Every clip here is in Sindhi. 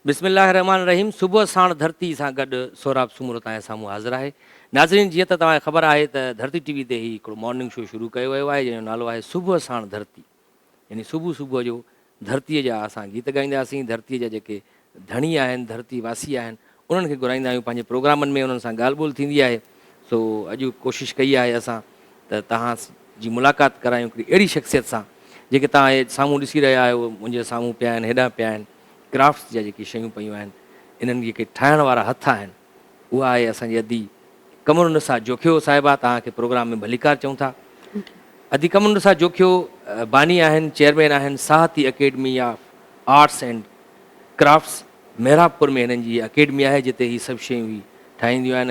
بسم الله الرحمٰن الرحيم صبح ساڻ ڌرتي سان گڏ سهراب سومرو توهان جي سامهون حاضر آهي ناظرين جيئن ته توهان کي خبر آهي ته ڌرتي ٽي وي تي هي هڪڙو مارننگ شو شروع ڪيو ويو آهي جنهن جو نالو آهي صبح ساڻ ڌرتي يعني صبح صبح جو ڌرتي جا اسان گيت ڳائينداسين ڌرتي جا جيڪي ڌڻي آهن ڌرتي واسي آهن انهن کي گهرائيندا آهيون پنهنجي پروگرامن ۾ انهن سان ڳالهه ٻولهه ٿيندي آهي سو اڄ ڪوشش ڪئي آهي اسان ته توهان جي ملاقات ڪرايون هڪڙي اهڙي شخصيت سان جيڪي توهان سامهون ڏسي رهيا آهيو منهنجي سامهون پيا آهن هيڏانهن پيا آهن ڪرافٽس جا جيڪي شيون پيون آهن انهن جيڪي ٺاهڻ وارا هٿ آهن اها آهي اسان جي ادي قمر النساء جوکيو صاحبه توهان کي پروگرام ۾ ڀليڪار چئون ٿا ادي قمر النساء جوکيو باني آهن چيئرمين آهن Sahiti Academy of Arts and Crafts Mehrabpur ۾ هنن جي اڪيڊمي آهي جتي هي سڀ شيون هي ٺاهينديون آهن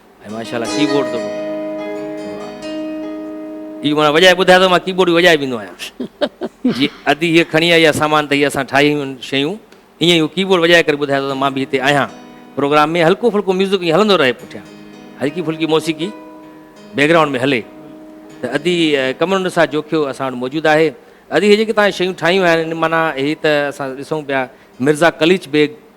۽ ماشاءالله ڪيبورڊ ته هي ماڻهو وڄائي ٻڌايو ته مان ڪيبورڊ به وڄائي ويندو آهيان جي ادي هي کڻي آئي سامان ته هي اسان ٺاهي آهيون شيون ائين ئي هو ڪيبورڊ وڄائي ڪري ٻڌايو ته مان به هتي آهيان پروگرام ۾ هلڪو ڦلڪو ميوزڪ ائين هلندو رهي پٺيان هلڪي ڦلڪي موسيقي بيڪگرائونڊ ۾ هلي ته ادي ڪمرن نثار جوکيو اسان وٽ موجود آهي ادي هي جيڪي تان شيون ٺاهيون آهن معنيٰ هي ته اسان ڏسون پيا مرزا قليچ بيگ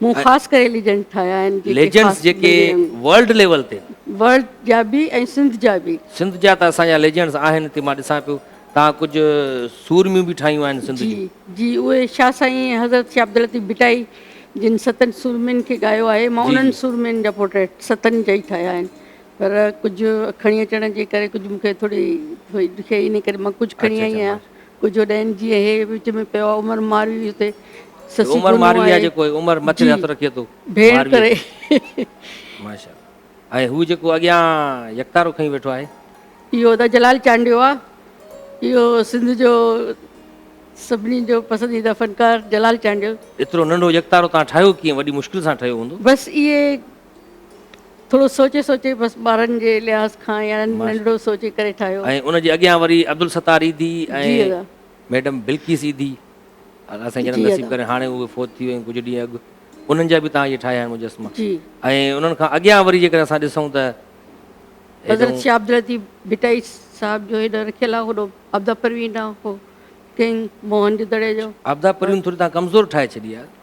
مون خاص ڪري ليجنڊ ٺاهيا آهن جيڪي ليجنڊس خاص جيڪي بنگي رنگ ورلڊ ليول تي ورلڊ جا به ۽ سنڌ جا به سنڌ جا ته اسان جا ليجنڊس آهن هتي مان ڏسان پيو توهان ڪجهه سورميون به ٺاهيون آهن سنڌ جي جون جي اهي شاهه سائين ۽ حضرت شاهه عبداللطيف ڀٽائي جن ستن سورمين کي ڳايو آهي مان جي انهن جي سورمين جا پورٽريٽ ستن جا ئي ٺاهيا آهن پر ڪجهه کڻي اچڻ جي ڪري ڪجهه مون کي ٿوري ڏکيائي انهي ڪري مان ڪجهه کڻي اچي آئي اچي آهيان ماشا ڪجهه ڏينهن جيئن هي وچ ۾ پيو آهي عمر ماروي اتي سسي عمر گنو ماروي آهي آهي جيڪو عمر مٿي جي هٿ رکي ٿو ڀيڻ ماروي ڪري تي ماشاء الله ۽ هو جيڪو اڳيان يڪتارو کڻي ويٺو آهي. اهو ته جلال چانڊيو آ اهو سنڌ جو سڀني جو پسنديده فنڪار جلال چانڊيو. ايترو ننڍو يڪتارو توهان ٺاهيو ڪيئن وڏي مشڪل سان ٺهيو هوندو. بس اهي. ٿورو سوچي سوچي بس ٻارن جي لحاظ کان يا ننڍڙو سوچي ڪري ٺاهيو. ۽ ان جي اڳيان وري عبدالستار ايڌي جي ۽ ادا. ميڊم بلقيس ايڌي الله سائين جنت جي نصيب ادا. ڪري هاڻي اهي فوت ٿي ويون ڪجهه ڏينهن اڳ انهن جا به تهان اهي ٺاهيا آهن مجسما جي. ۽ انهن کان اڳيان وري جيڪڏهن اسان ڏسون ته حضرت هيڏئون شاهه عبداللطيف ڀٽائي صاحب جو هيڏانهن رکيل آهي هوڏو عبدا پروين ڏانهن هو ڪنگ موهن جو دڙي جو عبدا پروين ٿوري تهان ڪمزور ٺاهي ڇڏي آهي.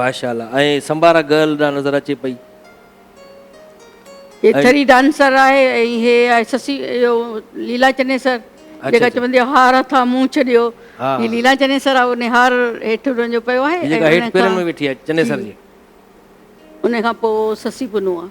ماشاءالله ۽ سمبارا گرل ڏانهن نظر اچي پئي. هي ٿري ڊانسر آهي ۽ هي آهي سسي اهو ليلا چنيسر جيڪا چوندي آهي هار هٿان منهن ڇڏيو هي ليلا چنيسر آهي ان هار هيٺ ان جو پيو آهي ۽ ان کان پوء سسي پنهون آهي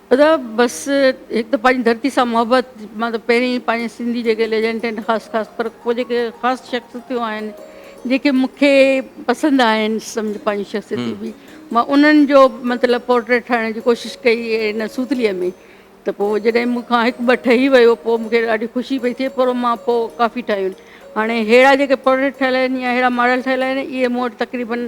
ادا بس هڪ ته پنهنجي ڌرتي سان محبت مان ته پهرين ئي پنهنجي سنڌي جيڪي ليجنڊ آهن خاص خاص پر ڪو جيڪي خاص شخصيتون آهن جيڪي مونکي پسند آهن سمجھ پنهنجي شخصيتون به مان انهن جو مطلب پورٽريٽ ٺاهڻ جي ڪوشش ڪئي هن سوتليء ۾ ته پوء جڏهن مون کان هڪ ٻه ٺهي ويو پوء مونکي ڏاڍي خوشي پئي ٿئي پر مان پوء ڪافي ٺاهيون هاڻي ههڙا جيڪي پورٽريٽ ٺهيل آهن يا ههڙا ماڊل ٺهيل آهن اهي مون وٽ تقريبن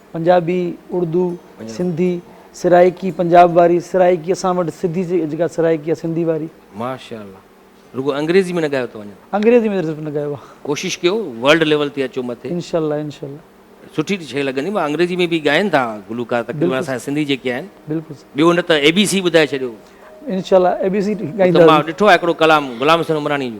پنجابي، اردو، سنڌي، سرائيڪي پنجاب واري، سرائيڪي اسان وٽ سڌي جيڪا سرائيڪي آ سنڌي واري. ماشاء الله رڳو انگريزي ۾ نه ڳايو اٿو اڃا. انگريزي ۾ صرف نه ڳايو آ. ڪوشش ڪيو ورلڊ ليول تي اچو مٿي. انشاء الله انشاء الله. سٺي شئي لڳندي مان انگريزي ۾ به ڳائين ٿا گلوڪار تقريبن اسان جا سنڌي جيڪي آهن ٻيو نه ته اي بي سي ٻڌائي ڇڏيو. انشاء الله اي بي سي ڳائينداسين. مان ڏٺو آ هڪڙو ڪلام غلام حسين عمراڻي جو.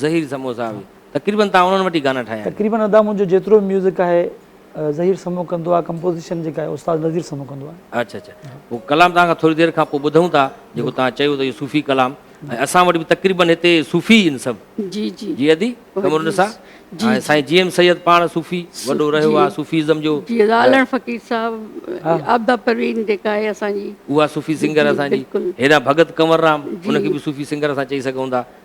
ظهير سمو صاحب جي تقريبن توهان انهن وٽ ئي گانا ٺاهيا آهن. تقريبن ادا منهنجو جيترو به ميوزڪ آهي ظهير سمو ڪندو آهي ڪمپوزيشن جيڪا آهي استاد نظير سمو ڪندو آهي. اڇا اڇا هو ڪلام توهان کان ٿوري دير کان پوء ٻڌون ٿا جيڪو توهان چيو ته اهو صوفي ڪلام ۽ اسان وٽ به تقريبن هتي صوفي ئي آهن سڀ جي جي جي ادي قمر النساء جي ۽ سائين جي ايم سيد پاڻ صوفي وڏو رهيو جي آهي صوفي ازم جو جي ادا علڻ فقير صاحب عابده پروين جيڪا آهي اسان جي اها صوفي جي سنگر جي اسان جي بلڪل هيڏانهن ڀڳت ڪنور رام ان کي جي به صوفي سنگر اسان چئي سگهون ٿا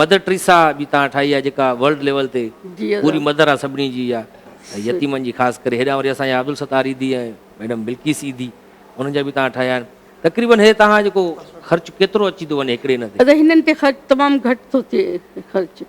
مدر ٽريسا به تان ٺاهي آ جيڪا ورلڊ ليول تي پوري مدر آ سڀني جي يا يتيمن جي خاص ڪري هيڏانهن وري اسان جا عبدالستار ايڌي ۽ ميڊم بلقيس ايڌي انهن جا به تان ٺاهيا آهن تقريبن هي تان جيڪو خرچ ڪيترو اچي ٿو وڃي هڪڙي ان تي. ادا هنن تي خرچ تمام گهٽ ٿو ٿئي خرچ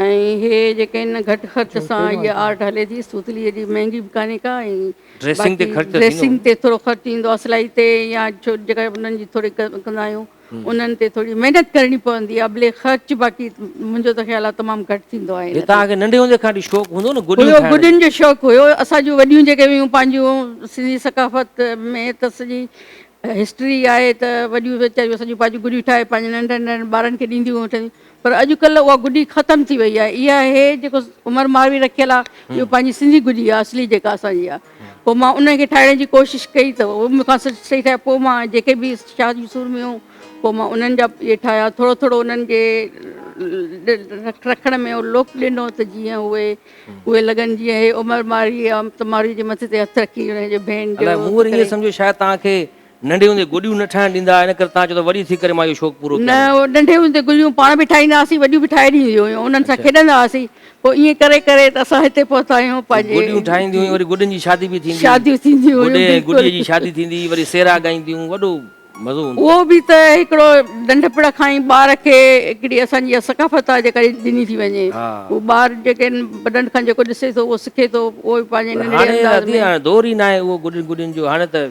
۽ هي جيڪي ان گهٽ خرچ سان هي آرٽ هلي ٿي سوتلي ايڏي مهنگي به ڪانهي ڪا ۽ ڊريسنگ تي خرچ ٿيندو ڊريسنگ تي ٿورو خرچ ايندو آ سلائي تي يا جيڪا انهن جي ٿوري ڪندا آهيون انهن تي ٿوري محنت ڪرڻي پوندي آهي بلڪ خرچ باقي منهنجو ته خيال آهي تمام گهٽ ٿيندو آهي ان تي. توهان کي ننڍي هوندي کان وٺي شوق هوندو نه گڏيون ٺاهڻ جو. گڏين جو شوق هيو اسان جون وڏيون جيڪي هيون پنهنجون سنڌي ثقافت ۾ ته سڄي هسٽري آهي ته وڏيون ويچاريون اسان جون پنهنجون گڏيون ٺاهي پنهنجن ننڍن ننڍن ٻارن کي ڏينديون هيون ٺهنديون پر اڄڪلهه اها گڏي ختم ٿي وئي آهي اها هي جيڪو عمر ماروي رکيل آهي اهو پنهنجي سنڌي گڏي آهي اصلي جيڪا اسان جي آهي پوء مان انهن کي ٺاهڻ جي ڪوشش ڪئي ته اهي به مون کان سٺ سٺ ٺاهيا پوء مان جيڪي به شاهه جون سورميون پوء مان انهن جا اهي ٺاهيا ٿورو ٿورو انهن جي رکڻ ۾ اهو لوڪ ڏنو ته جيئن اهي اهي لڳن جيئن اهي عمر مارئي يا تمارئي جي مٿي تي هٿ رکي انهن جي ڀين جو الائي مون وري ائين سمجهيو شايد توهان کي ننڍي هوندي گڏيون نه ٺاهڻ ڏيندا هئا، ان ڪري تان چئو ته وڏي ٿي ڪري مان اهو شوق پورو ڪيان نه. نه، ننڍي هوندي گڏيون پاڻ به ٺاهيندا هئاسين، وڏيون به ٺاهي ڏينديون هيون، انهن سان اڇا. کيڏندا هئاسين، پوء ائين ڪري ڪري ته اسان هتي پهتا آهيون پوء پنهنجي گڏيون ٺاهينديون هيون، وري گڏن جي شادي به ٿيندي هئي، شاديون ٿينديون گڏي هيون، ۽ گڏيء جي بلڪل. شادي ٿيندي هئي، وري سيرا ڳائينديون، وڏو مزو هوندو هو. اهو به ته هڪڙو ننڍپڻ کان ئي ٻار کي هڪڙي اسان جي اها ثقافت آهي جيڪا ڏني ٿي وڃي، ها. هو ٻار جيڪي آهن وڏن کان جيڪو ڏسي ٿو اهو سکي ٿو، اهو پنهنجي پر ننڍڙي هاڻي انداز ۾. دادي هاڻي دور ئي ناهي اهو گڏن گڏين جو، هاڻي ته.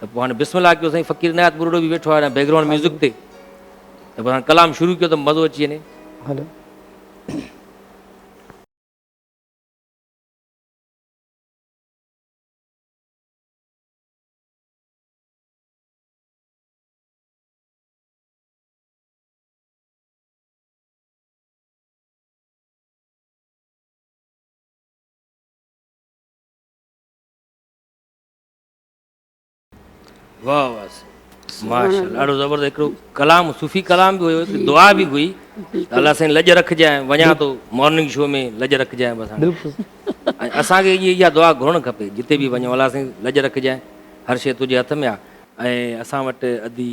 ته پوء هاڻي بسم الله ڪيو سائين فقير عنايت ٻرڙو به ويٺو آهي بيڪ گرائونڊ ميوزڪ تي ته پوء هاڻي ڪلام شروع ڪيو ته مزو اچي وڃي هلو واھ واھ سائين ماشاءالله ڏاڍو زبردست هڪڙو ڪلام صوفي ڪلام به هيو هڪڙي دعا به هئي الله سائين لڄ رکجانء وڃان ٿو مارننگ شو ۾ لڄ رکجانء بس هاڻي بلڪل ۽ اسان کي اهي اها دعا گهرڻ کپي جتي به وڃو الله سائين لڄ رکجانء هر شيء تنهنجي هٿ ۾ آ ۽ اسان وٽ ادي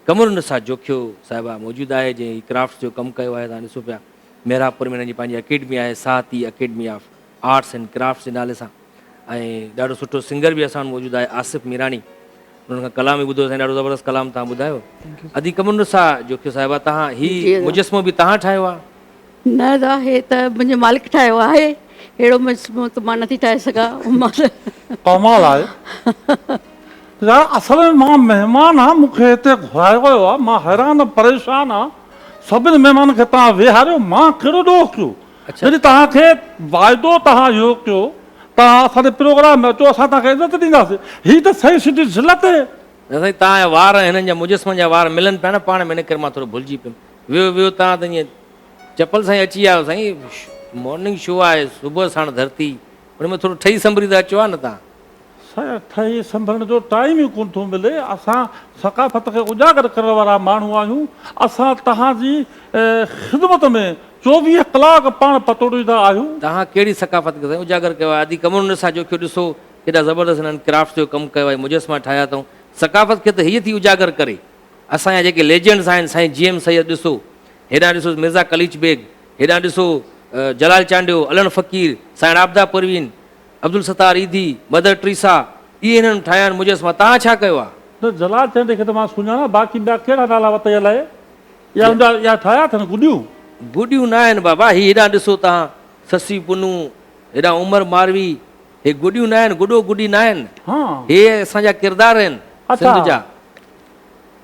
قمر النساء جوکيو صاحبه موجود آهي جنهن هي ڪرافٽس جو ڪم ڪيو آهي تان ڏسو پيا محراب پور ۾ هن جي پنهنجي اڪيڊمي آهي Sahiti Academy of Arts and Crafts جي نالي سان ۽ ڏاڍو سٺو سنگر به اسان وٽ موجود آهي آصف ميراڻي انهن کان ڪلام به ٻڌو سائين ڏاڍو زبردست ڪلام تهان ٻڌايو ادي ڪمن رسا جو کيو صاحبا تهان هي مجسمو به تهان ٺاهيو آهي نه دا هي ته منهنجي مالڪ ٺاهيو آهي هيڙو مجسمو ته مان نٿي ٺاهي سگا ڪمال آهي يا اصل ۾ مان مهمان آ مون کي هتي گهرايو ويو آهي مان حيران پريشان آ سڀني مهمانن کي تهان ويهاريو مان ڪهڙو ڏوهه ڪيو جڏهن توهان کي واعدو توهان اهو ڪيو توهان اسان جي پروگرام ۾ اچو اسان توهان کي عزت ڏينداسين هي ته سائين سنڌي ذلت هي. نه سائين توهان جا وار ۽ هنن جا مجسمن جا وار ملن پيا نه پاڻ ۾ ان ڪري مان ٿورو ڀلجي پيم ويو ويو توهان ته ائين چپل سان ئي اچي آيو سائين مارننگ شو آهي صبح ساڻ ڌرتي ان ۾ ٿورو ٺهي سنڀري ته اچو ها نه توهان. ٿهي سنڀرڻ جو ٽائيم ئي ڪونه ٿو ملي، اسان ثقافت کي اجاگر ڪرڻ وارا ماڻهو آهيون، اسان توهان جي خدمت ۾ چوويهه ڪلاڪ پاڻ پتوڙيندا آهيون. توهان ڪهڙي ثقافت کي سائين اجاگر ڪيو آهي، ادي ڪمرن ڏسان جو ڪيو ڏسو ڪيڏا زبردست هنن ڪرافٽ جو ڪم ڪيو آهي، مجسما ٺاهيا اٿئون، ثقافت کي ته هيء ٿي اجاگر ڪري، اسان جا جيڪي ليجنڊز آهن سائين جي ايم سيد ڏسو، هيڏانهن ڏسو مرزا قليچ بيگ، هيڏانهن ڏسو جلال چانڊيو، علڻ فقير، سائين عابده پروين، عبدالستار ايڌي، مدر ٽريسا، اهي هنن ٺاهيا آهن مجسما، توهان ڇا ڪيو آهي؟ نه جلال چيائين ته هيء کي ته مان سڃاڻان، باقي ٻيا ڪهڙا نالا وتائي الائي؟ اها ان جا اها ٺاهيا اٿن گڏيون؟ گڏيون نه آهن بابا، هي هيڏانهن ڏسو توهان، سسي پنهون، هيڏانهن عمر ماروي، هي گڏيون نه آهن، گڏو گڏي نه آهن، هان! هي اسان جا ڪردار آهن، اچا! سنڌ جا.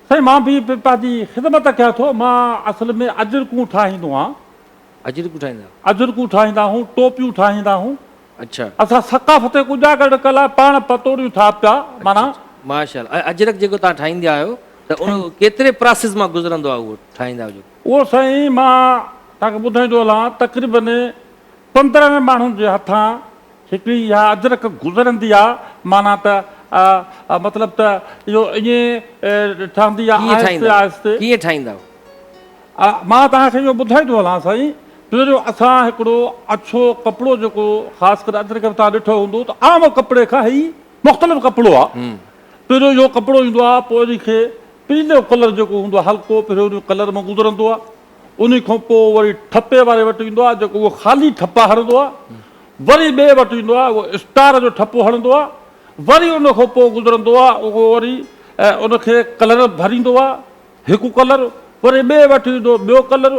سائين مان به پنهنجي خدمت ڪيان ٿو، مان اصل ۾ اجرڪون ٺاهيندو آهيان، اجرڪون ٺاهيندا هئا. اجرڪون ٺاهيندا هون، ٽوپيون ٺاهيندا هون. اڇا. اسان ثقافتي ڪڄاڳڙڪ لاء پاڻ پتوڙيون ٺاهه پيا. معنيٰ. اڇا اڇا ماشاء الله ۽ اجرڪ جيڪو تهان ٺاهيندا آهيو ته ان ڪيتري پراسيس مان گذرندو آهي اهو ٺاهيندا آهيو جيڪو. اهو سائين مان تهان کي ٻڌائيندو هلان تقريباً پندرهن ماڻهن جي هٿان هڪڙي اها اجرڪ گذرندي آهي معنيٰ ته مطلب ته اهو ائين ٺهندي آهي آهستي آهستي. ڪيئن ٺاهيندا آهيو. مان توهان کي اهو ٻڌائي ٿو هلان سائين ته جو اسان هڪڙو اڇو ڪپڙو جيڪو خاص ڪري اڄ تائين توهان ڏٺو هوندو ته عام ڪپڙي کان هي مختلف ڪپڙو آ پهريون اهو ڪپڙو ايندو آ پوء ان کي پيلو ڪلر جيڪو هوندو آ هلڪو پهريون ان ڪلر مان گذرندو آ ان کان پوء وري ٺپي واري وٽ ايندو آ جيڪو اهو خالي ٺپا هڻندو آ وري ٻئي وٽ ايندو آ اهو اسٽار جو ٺپو هڻندو آ وري ان کان پوء گذرندو آ اهو وري ان کي ڪلر ڀريندو آ هڪ ڪلر وري ٻئي وٽ ايندو ٻيو ڪلر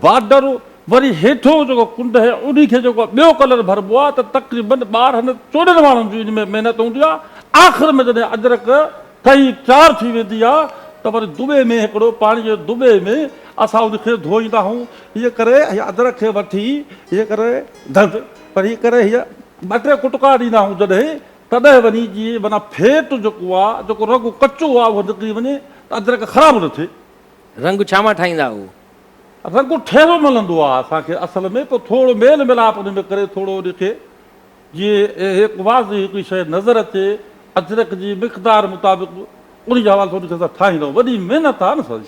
بارڊر وري هيٺيون جيڪو ڪنڊ آهي انهي کي جيڪو ٻيو ڪلر ڀربو آهي ته تقريبن ٻارهن چوڏهن ماڻهن جي ان ۾ محنت هوندي آهي آخر ۾ جڏهن اجرڪ ٺهي تيار ٿي ويندي آهي ته وري دٻي ۾ هڪڙو پاڻي جي دٻي ۾ اسان ان کي ڌوئيندا آهيون هيء ڪري هيء اجرڪ کي وٺي هيء ڪري ڌڳ وري هيء ڪري هيء ٻه ٽي ڪٽڪا ڏيندا آهيون جڏهن تڏهن وڃي جي معنيٰ ڦيٽ جيڪو آ، جيڪو رڳو ڪچو آ اهو نڪري وڃي ته ادرڪ خراب نه ٿئي. رنگ ڇا مان ٺاهيندا آهو؟ رنگ ٺيرو ملندو آ اسان کي اصل ۾ پوء ٿورو ميل ميلاپ ان ۾ ڪري ٿورو ان کي جي هڪ واضح هڪڙي شيء نظر اچي ادرڪ جي مقدار مطابق انهي حوالي سان ان کي اسان ٺاهيندا آهيون وڏي محنت آ نه سائين.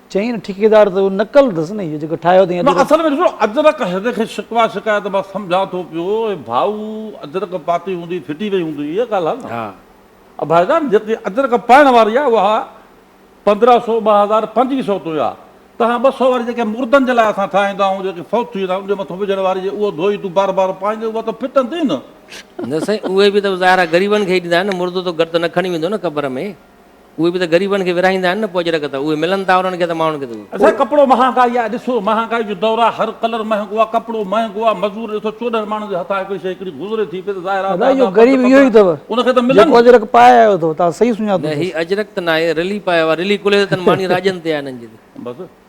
چيائين ٺيڪيدار ته اهو نقل اٿس نه اهو جيڪو ٺاهيو اٿئي ادرڪ. نه اصل ۾ ڏسو ادرڪ هن کي شڪوه شڪايت مان سمجهان ٿو پيو اي ڀائو ادرڪ پاتي هوندي ڦٽي وئي هوندي اها ڳالهه آهي نه ها ڀائي جان جيڪي ادرڪ پائڻ واري آهي اها پندرهن سو ٻه هزار پنجويهه سو تائين آهي تنهن ٻه سو واري جيڪي مردن جي لاء اسان ٺاهيندا آهيون جيڪي فوت ٿي ويندا آهن ان جي مٿو وجهڻ واري جي اهو ڌوئي تون بار بار پائيندين اها ته ڦٽندي نه. نه سائين اهي به ته ظاهر آهي غريبن کي ئي ڏيندا آهن نه مردو ته گڏ ته نه کڻي ويندو نه قبر ۾. اهي به ته غريبن کي ورهائيندا آهن نه پوء اجرڪ ته اهي ملن ٿا انهن کي ته ماڻهن کي ته اهي. اچا ڪپڙو مهانگائي آهي ڏسو مهانگائي جو دور آهي هر ڪلر مهنگو آهي ڪپڙو مهنگو آهي مزور ڏسو چوڏهن ماڻهن جي هٿان هڪڙي شي هڪڙي گذري ٿي پئي ته ظاهر آهي ته ادا غريب اهو ئي اٿو ان کي ته ملن جيڪو اجرڪ پائي آيو اٿو توهان صحيح سڃاتو نه هي اجرڪ ته ناهي رلي پايو آهي رلي ڪلهي ته تن ماني راڄن تي آهي انهن جي ته. بس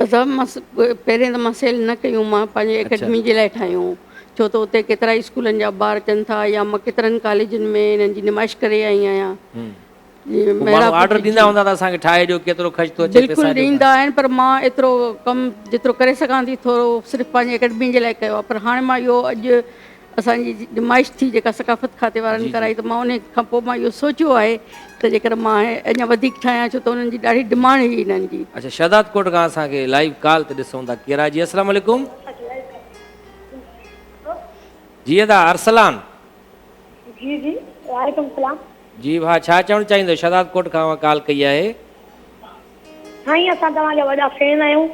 اسان پهرين ته مان سيل نه ڪيون مان پنهنجي اڪيڊمي جي لاء ٺاهيون ڇو ته اتي ڪيترا ئي اسڪولن جا ٻار اچن ٿا يا مان ڪيترن ڪاليجن ۾ انهن جي نمائش ڪري آئي آهيان بلڪل ڏيندا آهن پر مان ايترو ڪم جيترو ڪري سگهان ٿي ٿورو صرف پنهنجي اڪيڊمي جي لاء ڪيو آهي پر هاڻي مان اهو اڄ اسان جي نمائش ٿي جيڪا ثقافت کاتي وارن ڪرائي ته مان ان کان پوء مان اهو سوچيو آهي ته جيڪر مان اڃا وڌيڪ ٺاهيان ڇو ته انهن جي ڏاڍي ڊمانڊ هئي انهن جي. اچا شهداد ڪوٽ کان اسان کي لائيو ڪال تي ڏسون ٿا ڪير آهي جي اسلام عليڪم جي ادا ارسلان جي جي وعليڪم السلام جي ڀا ڇا چوڻ چاهيندو شهداد ڪوٽ کان اوهان ڪال ڪئي آهي سائين اسان توهان جا وڏا فين آهيون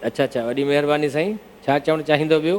اچا اچا وڏي مهرباني سائين ڇا چوڻ چاهيندو ٻيو.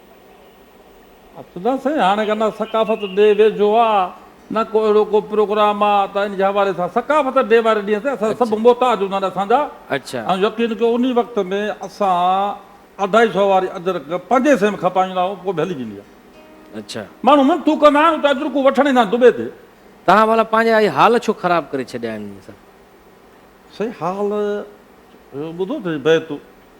نه سائين هاڻي ڪا نه ثقافت ڊي ويجهو آ نه ڪو اهڙو ڪو پروگرام آ ته ان جي حوالي سان ثقافت ڊي واري ڏينهن تي اسان سڀ محتاج هوندا آهن اسان جا ۽ يقين ڪيو انهي وقت ۾ اسان اڍائي سئو واري اجرڪ پنجين سئين ۾ کپائيندا آهيون پوء به هلي ويندي آهي ماڻهو منٿون ڪندا آهن اتي اجرڪون وٺڻ ايندا آهن دبي تي. توهان والا پنهنجا اهي حال ڇو خراب ڪري ڇڏيا آهن سائين. سائين حال ٻڌو ته سهي بيت.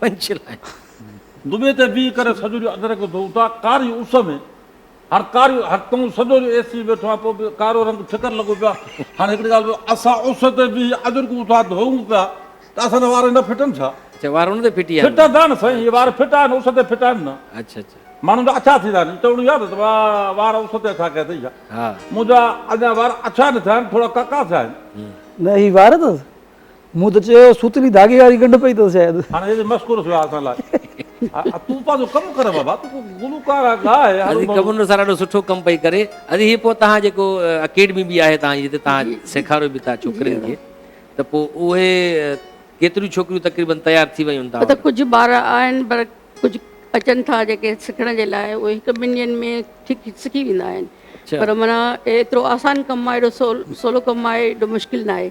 Punch line. دٻي تي بيهي ڪري سڄو ڏينهن ادرڪ اڌو اڌا ڪاري اس ۾ هر ڪاري هر تون سڄو ڏينهن اي سي ويٺو آهين پوء به ڪارو رنگ ٺڪر لڳو پيو آهي هاڻي هڪڙي ڳالهه ٻڌاء اسان اس تي بيهي ادرڪ اڌا ڌوئون پيا ته اسان جا وار نه ڦٽن ڇا؟ اڇا وار ان تي ڦٽي آهن. ڦٽندا نه سائين اهي وار ڦٽا آهن اس تي ڦٽا آهن نه. اڇا اڇا. ماڻهن جا اڇا ٿيندا آهن چوڻو ياد اٿم آ وار اس تي اڇا ڪيا اٿئي ڇا؟ ها. منهنجا اڃا وار اڇا نه ٿيا آهن ٿورا ڪاڪا ٿيا آهن. نه هي وار اٿس. مون ته چيو سوتلي ڌاڳي واري ڳنڍ پئي اٿس شايد. هاڻ هيڏي مس ڪورس ويا اسان لاء. تون پنهنجو ڪم ڪر بابا تون گلوڪار آهي ڳاء. ادي ڪمنر سر ڏاڍو سٺو ڪم پئي ڪري ادي هي پوء تهان جيڪو اڪيڊمي به آهي تهان جي جتي تهان سيکاريو به ٿا ڇوڪرين کي ته پوء اهي ڪيتريون ڇوڪريون تقريبن تيار ٿي ويون تهان وٽ. ڪجهه ٻار آهن پر ڪجهه اچن ٿا جيڪي سکڻ جي لاء اهي هڪ ٻن ڏينهن ۾ ٺيڪ سکي ويندا آهن پر معنيٰ ايترو آسان ڪم آهي ايڏو سولو ڪم آهي ايڏو مشڪل ناهي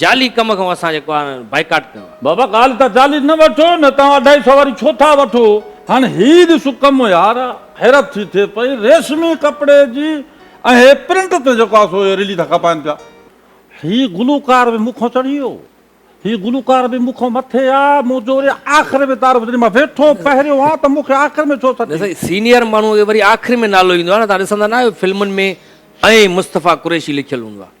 جعلي ڪم کان اسان جي ڪارن بائيڪاٽ ڪيو آهي. بابا ڳالهه ته جعلي نه وٺو نه توهان اڍائي سئو واري ڇو ٿا وٺو هاڻ هي ڏسو ڪم يار حيرت ٿي ٿئي پئي ريشمي ڪپڙي جي ۽ هي پرنٽ تي جيڪو آهي سو اهي رلي ٿا کپائن پيا هي گلوڪار به مون کان چڙهي ويو هي گلوڪار به مون کان مٿي آ مون جو وري آخر ۾ تعارف جڏهن مان ويٺو پهريون آ ته مون کي آخر ۾ ڇو سڏ نه سائين سينيئر ماڻهو کي وري آخر ۾ نالو ايندو آ نه توهان ڏسندا نه آهيو فلمن ۾ ۽ مصطفيٰ قريشي لکيل هوندو آ.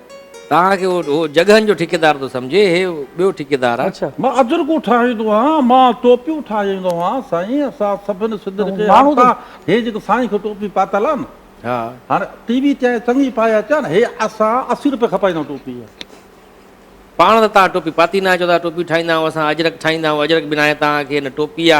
توهان کي هو جڳهن جو ٺيڪيدار ٿو سمجهي، هي ٻيو ٺيڪيدار آ. مان اجرڪون ٺاهيندو آهيان، مان ٽوپيون ٺاهيندو آهيان، سائين اسان سڀن سنڌين کي هاڻ ته هي جيڪي سائين کي ٽوپي پاتل آ نه هاڻ ٽي وي تي آئين چڱي پائي اچان هي اسان اسي روپيه کپائيندان ٽوپي جا. پاڻ ته توهان ٽوپي پاتي ناهي چئو ٿا ٽوپي ٺاهيندا آهيون اسان اجرڪ ٺاهيندا آهيون اجرڪ بنائي توهان کي نه ٽوپي آ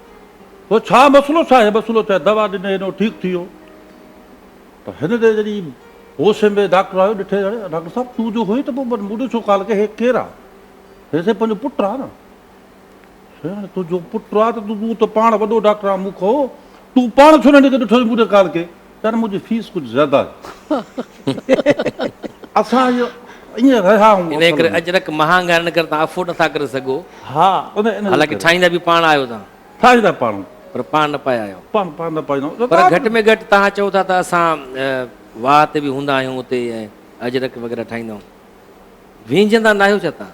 هو ڇا مسئلو ڇا هي مسئلو ڇا هي دوا ڏني هن هو ٺيڪ ٿي ويو پر هن تي جڏهن هوش ۾ ڊاڪٽر آيو ڏٺي اڙي ڊاڪٽر صاحب تون جو هئين ته پوء مون ڏي ڇو ڪال ڪئي هي ڪير آ هي سائين پنهنجو پٽ آ نه سائين هاڻي تنهنجو پٽ آ ته تون ته پاڻ وڏو ڊاڪٽر آ مون کان تون پاڻ ڇو نه هن کي ڏٺو هئي مون ڏي ڪال ڪئي سر منهنجي فيس ڪجهه زياده آهي اسان اهي ائين رهيا آهيون انهي ڪري اجرڪ مهانگ آهي ان ڪري توهان افورڊ نٿا ڪري سگهو ها انهي حالانڪه ٺاهيندا به پاڻ آهيو توهان ٺاهيندا پاڻ آهيون پر پاڻ نه پايا آهيو پاڻ پاڻ نه پايون پر گهٽ ۾ گهٽ توهان چئو ٿا ته اسان واهه تي به هوندا آهيون اتي اجرڪ وغيره ٺاهيندا آهيون وينجهندا ناهيو ڇا توهان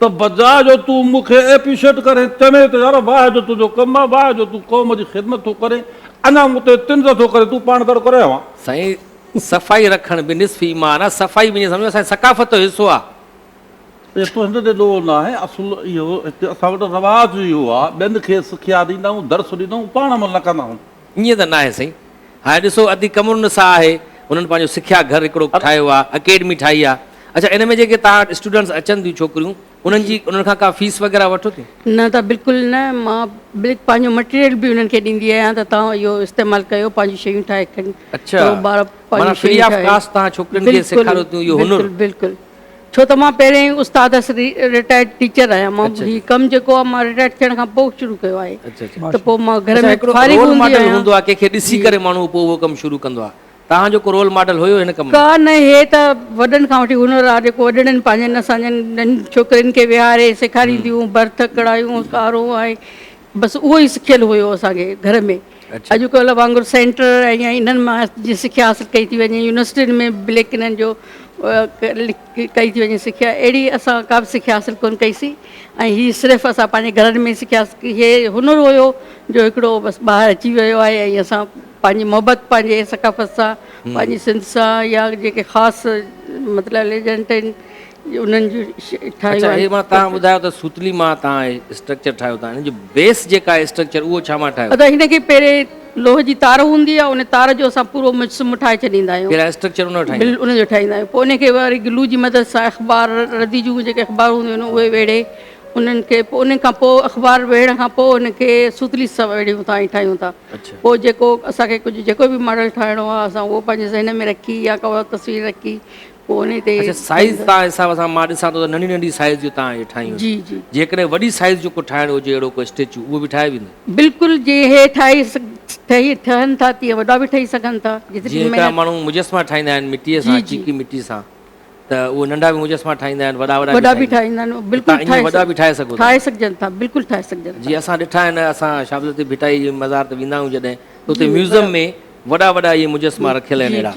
ته بجاء جو تون مون کي ايپريشيٽ ڪرين، چوين ته يار واهه جو تنهنجو ڪم آ، واهه جو تون قوم جي خدمت ٿو ڪرين، اڃا مون تي طنز ٿو ڪرين، تون پاڻ ڪهڙو ڪري اوهان. سائين صفائي رکڻ به نصف ايمان آ، صفائي وڃي سمجهو اسان جي ثقافت جو حصو آ. پيسو هن تي ڏوهه نه آهي، اصل اهو هتي اسان وٽ رواج اهو آ، ٻين کي سکيا ڏيندا آهيون، درس ڏيندا آهيون، پاڻ عمل نه ڪندا آهيون. ائين ته ناهي سائين. هاڻي ڏسو ادي قمر النساء آهي، هنن پنهنجو سکيا گهر هڪڙو ٺاهيو آ، اڪيڊمي ٺاهي آ. اڇا ان ۾ جيڪي توهان وٽ اسٽوڊنٽس اچن ٿيون ڇوڪريون، انهن جي انهن کان ڪا فيس وغيره وٺو ٿيون؟ نه ته بلڪل نه، مان بلڪ پنهنجو مٽيريل به انهن کي ڏيندي آهيان ته توهان اهو استعمال ڪيو پنهنجون شيون ٺاهي کڻ اچا، معنيٰ فري آف ڪاسٽ توهان ڇوڪرين کي سيکاريو ٿيون اهو هنر؟ بلڪل بلڪل بلڪل. ڇو ته مان پهريان ئي استاد هئس، رٽائرڊ ٽيچر آهيان. مان هي ڪم جيڪو آهي مان رٽائرڊ ٿيڻ کان پوء شروع ڪيو آهي ته پوء مان گهر ۾ فارغ هوندي آهيان. اچا هڪڙو رول ماڊل هوندو آهي ڪنهن کي ڏسي ڪري ماڻهو پوء اهو ڪم شروع ڪندو آهي. توهان جو ڪو رول ماڊل هيو هن ڪم ۾؟ ڪا نه هي ته وڏن کان وٺي هنر آهي جيڪو وڏڙن پنهنجن اسان جن ننڍين ڇوڪرين کي ويهاري سيکارينديون برٿ ڪڙايون ڪارون ۽ بس اهو ئي سکيل هيو اسان کي گهر ۾ اڄ ڪلهه وانگر سينٽر ۽ انهن مان جي سکيا حاصل ڪئي ٿي وڃي يونيورسٽين ۾ بليڪ انهن جو ڪئي ٿي وڃي سکيا اهڙي اسان ڪا به سکيا حاصل ڪونه ڪئي سي ۽ هي صرف اسان پنهنجي گهرن ۾ سکيا هي هنر هيو جو هڪڙو بس ٻاهر اچي ويو آهي ۽ اسان پنهنجي محبت پنهنجي ثقافت سان پنهنجي سنڌ سان يا جيڪي خاص مطلب ليجنٽ آهن انهن جون ٺاهيون اڇا هي مان تان ٻڌايو ته سوتلي مان تان هي اسٽرڪچر ٺاهيو تان هن جو بيس جيڪا اسٽرڪچر اهو ڇا مان ٺاهيو. ادا هن کي پهرين لوهه جي تار هوندي آهي ان تار جو اسان پورو مجسمو ٺاهي ڇڏيندا آهيون. پهريان اسٽرڪچر ان جو ٺاهيندا آهيون. ان جو ٺاهيندا آهيون پوء ان کي وري گلو جي مدد سان اخبار ردي جون جيڪي اخبار هونديون آهن اهي ويڙهي انهن کي پوء ان کان پوء اخبار ويڙهڻ کان پوء ان کي سوتلي سان ويڙهيون ٿا ۽ ٺاهيون ٿا پوء جيڪو اسان کي ڪجهه جيڪو به ماڊل ٺاهڻو آهي اسان اهو پنهنجي ذهن ۾ رکي يا ڪا تصوير رکي اڇا سائيز تان حساب سان مان ڏسان ٿو ته ننڍي ننڍي سائيز جون تان اهي ٺاهيون جي جي جيڪڏهن وڏي سائيز جو ڪو ٺاهڻ هجي اهڙو ڪو اسٽيچو اهو به ٺاهي ويندو بلڪل جي هي ٺاهي ٺهي ٺهن ٿا تي وڏا به ٺهي سگهن ٿا جي هڪڙا ماڻهو مجسما ٺاهيندا آهن مٽي سان چيڪي مٽي سان ته اهو ننڍا به مجسما ٺاهيندا آهن وڏا وڏا وڏا به ٺاهيندا آهن بلڪل ٺاهي وڏا به ٺاهي سگهو ٺاهي سگهجن ٿا بلڪل ٺاهي سگهجن ٿا جي اسان ڏٺا آهن اسان شاهه عبداللطيف ڀٽائي جي مزار تي ويندا آهيون جڏهن ته اتي ميوزم ۾ وڏا وڏا اهي مجسما رکيل آهن اهڙا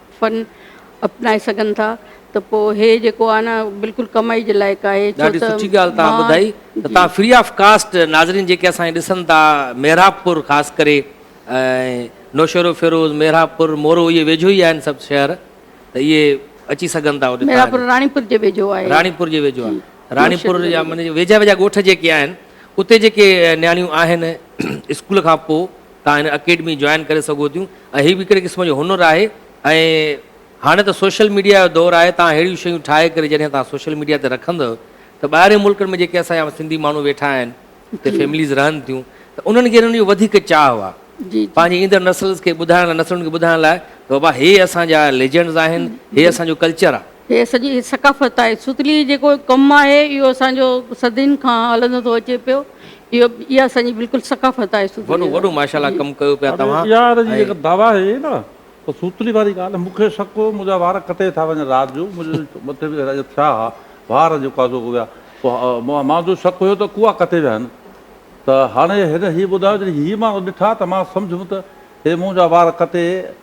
فن اپنائي سگهن ٿا ته پوء هي جيڪو آهي نه بلڪل ڪمائي جي لائق آهي ڇو ته ڏاڍي سٺي ڳالهه توهان ٻڌائي ته توهان فري آف ڪاسٽ ناظرين جيڪي اسان کي ڏسن ٿا محراب پور خاص ڪري نوشهروفيروز محراب پور مورو اهي ويجهو ئي آهن سڀ شهر ته اهي اچي سگهن ٿا اوڏي محراب پور راڻي پور جي ويجهو آهي راڻي پور جي ويجهو آهي راڻي پور جا ويجها ويجها ڳوٺ جيڪي آهن اتي جيڪي نياڻيون آهن اسڪول کان پوء توهان هن اڪيڊمي جوائن ڪري سگهو ٿيون ۽ هي به هڪڙي قسم جو هنر آهي ۽ هاڻي ته سوشل ميڊيا جو دور آهي توهان ههڙيون شيون ٺاهي ڪري جڏهن توهان سوشل ميڊيا تي رکندؤ ته ٻاهرين ملڪن ۾ جيڪي اسان جا سنڌي ماڻهو ويٺا آهن اتي فيمليز رهن ٿيون ته انهن کي انهن جو وڌيڪ چاهه آهي پنهنجي ايندڙ نسلز کي ٻڌائڻ لاء نسلن کي ٻڌائڻ لاء ته بابا هي اسان جا ليجنڊز آهن هي اسان جو ڪلچر آهي. هيء سڄي ثقافت آهي. ستليء جيڪو ڪم آهي، اهو اسان جو صدين کان هلندو ٿو اچي پيو. اهو اها اسان جي بلڪل ثقافت آهي ستليء جا. وڏو وڏو ماشاءالله ڪم ڪيو پيا توهان. اها اها جي جيڪا دعويٰ آهي نه ته ستلي واري ڳالهه مون کي شڪ هو منهنجا وار ڪٽي ٿا وڃن رات جو منهنجي مٿي به اهڙا ٿيا ها وار جيڪو آهي سو اڳ ويا پوء مان جو شڪ هيو ته ڪوئا ڪٽي ويا آهن ته هاڻي هن هي ٻڌايو جڏهن هي ماڻهو ڏٺا ته مان سمجهيم ته هي منهنجا وار ڪٽي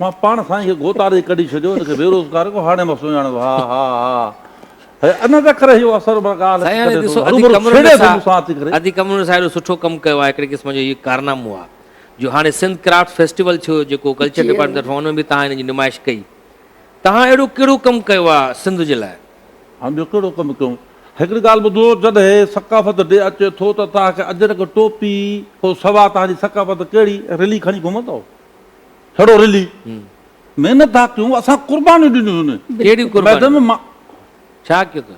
مان پاڻ سائين کي گوتاري ئي ڪڍي ڇڏيو ان کي بيروزگار ڪو هاڻي مان سڃاڻيو ها ها ها هي ان ته ڪري اهو اثر مان ڳالهه سائين هاڻي ڪڍي ٿو ڏسو ادي هروڀرو قمر ڇيڙي ٿو نثار مون سان اچي ڪري ادي قمر نثار اهڙو سٺو ڪم ڪيو آهي هڪڙي قسم جو هي ڪارنامو آهي جو هاڻي سنڌ ڪرافٽ فيسٽيول ٿيو جيڪو ڪلچر جي ڊپارٽمينٽ طرفان ان ۾ به تهان هن جي نمائش ڪئي تهان اهڙو ڪهڙو ڪم ڪيو آهي سنڌ جي لاء هاڻ ٻيو ڪهڙو ڪم ڪيون هڪڙي ڳالهه ٻڌو جڏهن ثقافت ڊي اچي ٿو ته تهان کي اجرڪ ٽوپي کان سوا تهان جي ثقافت ڪهڙي رلي کڻي گهمندؤ ههڙو رلي، محنت ٿا ڪيون، اسان قربانيون ڏنيون هن ميدان ۾. ڇا ڪيو ٿا؟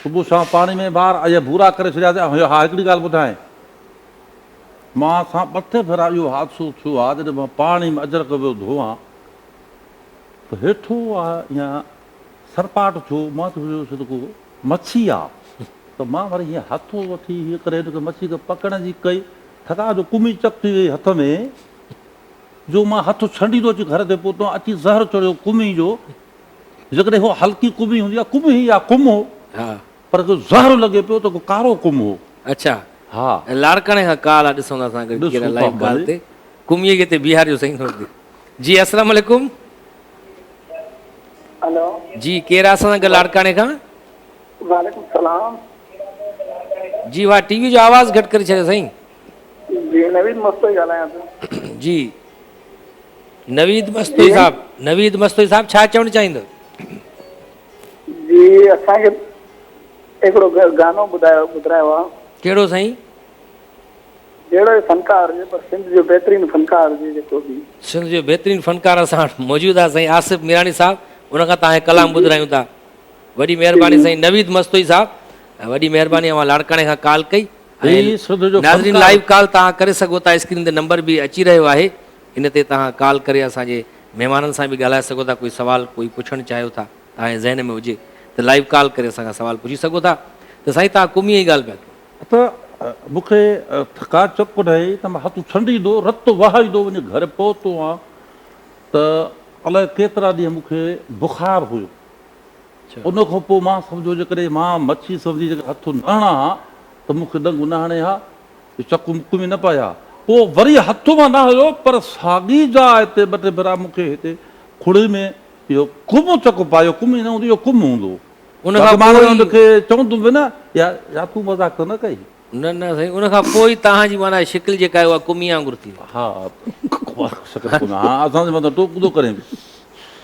صبح شام پاڻي ۾ ٻار اهي ڀورا ڪري ڇڏياسين. ها هڪڙي ڳالهه ٻڌاين. مان سان ٻه ٽي ڀيرا اهو حادثو ٿيو آهي جڏهن مان پاڻي ۾ اجرڪ ويو ڌوئان ته هيٺو اها سرپاٽ ٿيو مان ته ويو سو ته ڪو مڇي آ ته مان وري هيئن هٿو وٺي هيئن ڪري هن کي مڇي کي پڪڙڻ جي ڪئي ٿڪاء جو ڪمي چڪ ٿي وئي هٿ ۾ جو مان هٿ ڇنڊيندو اچي گهر تي پهتو ۽ اچي زهر چڙهيو ڪمهي جو، جيڪڏهن اها هلڪي ڪمهي هوندي ها ڪمهي يا ڪم هو، پر جو زهر لڳي پيو ته ڪو ڪارو ڪم هو. اڇا ها. لاڙڪاڻي کان ڪال آ ڏسون ٿا اسان گڏجي ڪري لائيو ڪال تي ڪمهي کي اتي بيهاريو سائين ٿوري دير. جي اسلام عليڪم. هلو. جي ڪير آ اسان سان گڏ لاڙڪاڻي کان. وعليڪم سلام. جي اها ٽي وي جو آواز گهٽ ڪري ڇڏيو سائين. جي نويد مستوئي ڳالهايان ٿو. جي نويد مستوئي صاحب نويد مستوئي صاحب ڇا چوڻ چاهيندو. جي اسان کي هڪڙو گانو ٻڌايو ٻڌرايو آ. ڪهڙو سائين. جهڙو به فنڪار هجي پر سنڌ جو بهترين فنڪار هجي جيڪو به. سنڌ جو بهترين فنڪار اسان وٽ موجود آ سائين آصف ميراڻي صاحب ان کان توهان کي ڪلام ٻڌرايون ٿا. وڏي مهرباني سائين نويد مستوئي صاحب وڏي مهرباني اوهان لاڙڪاڻي کان ڪال ڪئي ناظرين لائيو ڪال توهان ڪري سگهو ٿا اسڪرين تي نمبر به اچي رهيو آهي ان تي توهان ڪال ڪري اسان جي مهمانن سان به ڳالهائي سگهو ٿا ڪوئي سوال ڪوئي پڇڻ چاهيو ٿا توهان جي ذهن ۾ هجي ته لائيو ڪال ڪري اسان کان سوال پڇي سگهو ٿا ته سائين توهان قومي جي ڳالهه پيا ڪيو ته مون کي ٿڪا چڪ ڪڍائي ته مان هٿ ڇنڊيندو رت وهائيندو وڃي گهر پهتو هان ته الاء ڪيترا ڏينهن مون کي بخار هيو. ان کان پوء مان سمجهيو جيڪڏهن مان مڇي سمجهي جيڪڏهن هٿ نه هڻان ها ته مون کي ڏنگ نه هڻي ها، جو چڪ مک ۾ نه پائي ها. پوء وري هٿ مان نه هنيو، پر ساڳي جاء تي ٻه ٽي ڀيرا مون کي هتي کڙي ۾ اهو ڪم چڪ پايو، ڪم ئي نه هوندو، اهو ڪم هوندو هو. باقي مان ان کي چوندو به نه، يا تون مذاق ته نه ڪئين؟ نه نه سائين ان کان پوء ئي توهان جي معنيٰ شڪل جيڪا آهي اها ڪمي وانگر ٿي وئي. ها شڪل ڪمي ها اسان جي مطلب ٽوڪ ٿو ڪرين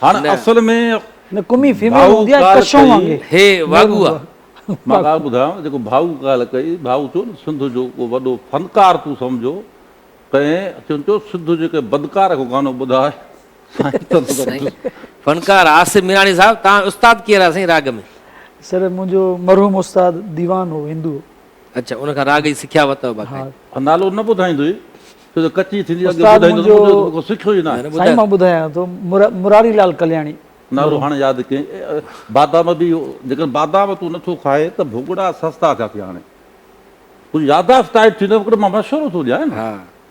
هاڻ اصل ۾ نه ڪمي فيميل هوندي آهي ڪشون وانگر هي واڳو آ. مان ڳالهه ٻڌايانو جيڪو ڀائو ڳالهه ڪئي ڀائو چيو نه سنڌ جو ڪو وڏو فنڪار تون سمجهو ڪنهن چيو سنڌ جي ڪنهن بدڪار کي گانو ٻڌاء فنڪار آصف ميراڻي صاحب توهان استاد ڪير آ سائين راڳ ۾. سر منهنجو مرحوم استاد ديوان هو هندو. اڇا ان کان راڳ جي سکيا ورتو باقاعده. ها نالو نه ٻڌائيندوئي ڇو جو ڪچي ٿيندي اڳي ٻڌائيندو ته مون کي سکيو ئي ناهي. سائين مان ٻڌايان ٿو مراري لال ڪلياڻي. نالو هاڻي ياد ڪئين بادام به جيڪڏهن بادام تون نٿو کائي ته ڀوڳڙا سستا ٿيا ٿي هاڻي تنهنجي ياداشت ٽائيٽ ٿي نه مان مشورو ٿو ڏيان نه.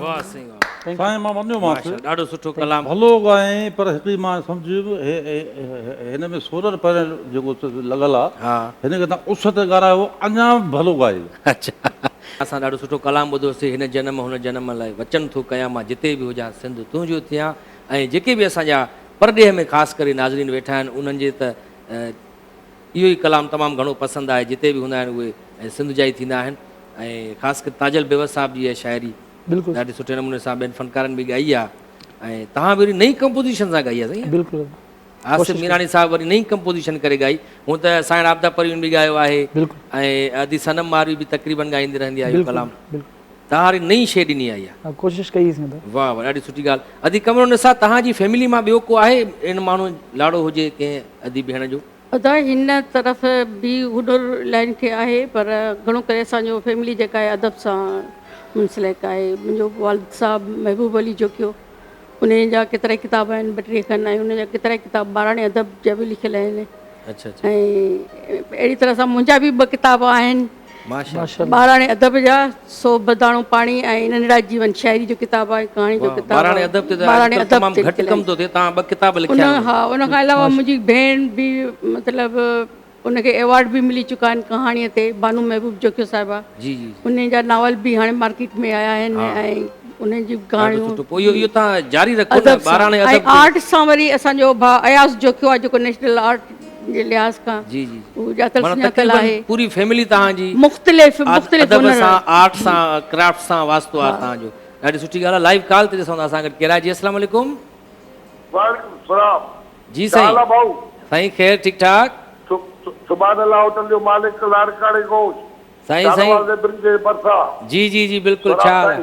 واه سائين واه. سائين مان وڃيو مانس. ماشاءالله ڏاڍو سٺو ڪلام. ڀلو ڳائين پر هڪڙي مان سمجهيم هن ۾ سولر پينل جيڪو لڳل آ هن کي تان اس تي ڳارايو اڃا به ڀلو ڳائي. اچا اسان ڏاڍو سٺو ڪلام ٻڌو سي هن جنم هن جنم لاء وچن ٿو ڪيان مان جتي به هجان سنڌ تنهنجو ٿيان ۽ جيڪي به اسان جا پرڏيهه ۾ خاص ڪري ناظرين ويٺا آهن انهن جي ته اهو ئي ڪلام تمام گهڻو پسند آهي، جتي به هوندا آهن اهي ۽ سنڌ جا ئي ٿيندا آهن ۽ خاص ڪري تاجل بيوس صاحب جي اها شاعري بلڪل ڏاڍي سٺي نموني سان ٻين فنڪارن به ڳائي آهي ۽ توهان به وري نئين ڪمپوزيشن سان ڳائي آهي سائين بلڪل آصف ميراڻي صاحب وري نئين ڪمپوزيشن ڪري ڳائي هونء ته سائڻ عابده پروين به ڳايو آهي بلڪل ۽ ادي صنم ماروي به تقريبن ڳائيندي رهندي آهي اهو بلڪل ڪلام بلڪل توهان واري نئين شيء ڏني آئي آ. ها ڪوشش ڪئي اسين ته. واھ واھ ڏاڍي سٺي ڳالھ ادي قمر النساء تهان جي فيملي مان ٻيو ڪو آهي اهڙن ماڻهون لاڙو هجي ڪنهن ادي ڀيڻ جو. ادا هن طرف به هڏر لائين کي آهي پر گهڻو ڪري اسان جو فيملي جيڪا آهي ادب سان منسلڪ آهي منهنجو والد صاحب محبوب علي جوکيو انهي جا ڪيترائي ڪتاب آهن ٻه ٽيهه کن ۽ انهن جا ڪيترائي ڪتاب ٻاراڻي ادب جا به لکيل آهن اهڙي طرح سان منهنجا به ٻه ڪتاب آهن. ٻاراڻي ادب جا سو به داڻو پاڻي ۽ ننڍڙا جيون شاعري جو ڪتاب آهي ڪهاڻي جو ڪتاب آهي ٻاراڻي ادب تمام گهٽ ڪم ٿو ٿئي تان ٻه ڪتاب لکيا آهن ها ان کان علاوه منهنجي ڀيڻ به مطلب ان کي ايوارڊ به ملي چڪا آهن ڪهاڻي تي بانو محبوب جوکيو صاحبه جي جي ان جا ناول به هاڻي مارڪيٽ ۾ آيا آهن ۽ انهن جي ڪهاڻيون پوء اهو اهو تان جاري رکو ته ٻاراڻي ادب ۽ آرٽ سان وري اسان جو ڀاء اياز جوکيو آهي جيڪو نيشنل آرٽ جي لحاظ کان هو ڄاتل سڃاتل آهي. پوري فيملي تهان جي مختلف مختلف ادب سان آرٽ سان ڪرافٽ سان واسطو آهي تهان جو ڏاڍي سٺي ڳالهه آهي لائيو ڪال تي ڏسون ٿا اسان گڏ ڪير آهي جي السلام عليڪم. وعليڪم السلام جي سائين ڪيا حال آ ڀائو. سائين خير ٺيڪ ٺاڪ. سبحان الله هوٽل جو مالڪ لاڙڪاڻي گوش شاهه نواز ليبريري جي ڀرسان. جي جي جي بلڪل ڇا حال آ.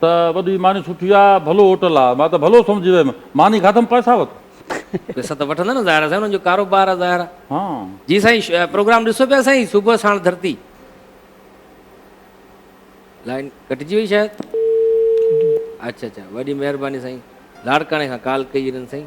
ته وڏي ماني سٺي آ، ڀلو هوٽل آ. مان ته ڀلو سمجهي ويم. ماني کاڌم پئسا وت. پئسا ته وٺندا نه ظاهر آ سائين انهن جو ڪاروبار آ ظاهر آ. ها. جي سائين پروگرام ڏسو پيا سائين صبح ساڻ ڌرتي. لائين ڪٽجي وئي شايد. اچ اچ وڏي مهرباني سائين لاڙڪاڻي کان ڪال ڪئي هي هنن سائين.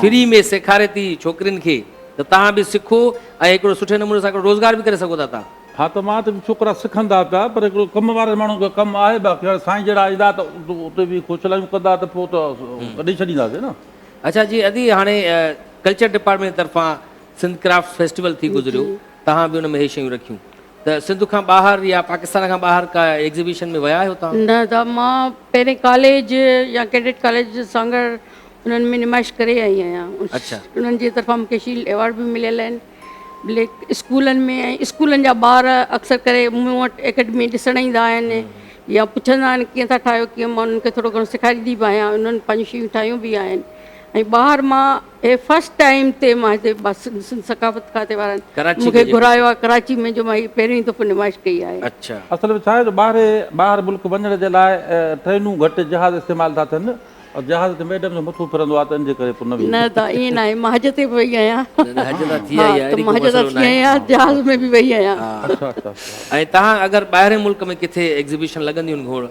فري ۾ سيکاري ٿي ڇوڪرين کي ته تهان به سکو ۽ هڪڙو سٺي نموني سان هڪڙو روزگار به ڪري سگهو ٿا تهان. ها ته مان ته ڇوڪرا سکن ٿا پيا پر هڪڙو ڪم وارن ماڻهن کي ڪم آهي باقي هاڻي سائين جهڙا ايندا ته اتي به کوڇلايون ڪندا ته پوء ته ڪڍي ڇڏينداسين نه. اڇا جي ادي هاڻي ڪلچر ڊپارٽمينٽ جي طرفان سنڌ ڪرافٽس فيسٽيول ٿي گذريو تهان به ان ۾ هي شيون رکيون. ته سنڌ کان ٻاهر يا پاڪستان کان ٻاهر ڪا ايگزيبيشن ۾ ويا آهيو توهان؟ نه دا مان پهرين ڪاليج يا ڪيڊٽ ڪاليج سانگهڙ انهن ۾ نمائش ڪري آئي آهيان انهن جي طرفان مون کي شيلڊ ايوارڊ به مليل آهن بلڪ اسڪولن ۾ ۽ اسڪولن جا ٻار اڪثر ڪري مون وٽ اڪيڊمي ڏسڻ ايندا آهن يا پڇندا آهن ڪيئن ٿا ٺاهيو ڪيئن مان انهن کي ٿورو گهڻو سيکاريندي به آهيان انهن پنهنجون شيون ٺاهيون به آهن ۽ ٻاهر مان هي فرسٽ ٽائيم تي مان هتي سنڌ ثقافت کاتي وارن مون کي گهرايو آهي ڪراچي ۾ جو مان هي پهرين دفعو نمائش ڪئي آهي. اصل ۾ ڇا آهي جو ٻاهري ٻاهر ملڪ وڃڻ جي لاء ٽرينون گهٽ جهاز استعمال ٿا ٿين ۽ جهاز تي ميڊم جو مٿو ڦرندو آهي ته ان جي ڪري پوء نه ويهي سگهجي ٿو. نه ائين ناهي مان حج تي به وئي آهيان ته مان حج تان ٿي آئي آهيان جهاز ۾ به وئي آهيان. ۽ تهان اگر ٻاهرين ملڪ ۾ ڪٿي ايگزيبيشن لڳنديون آهن گهوڙ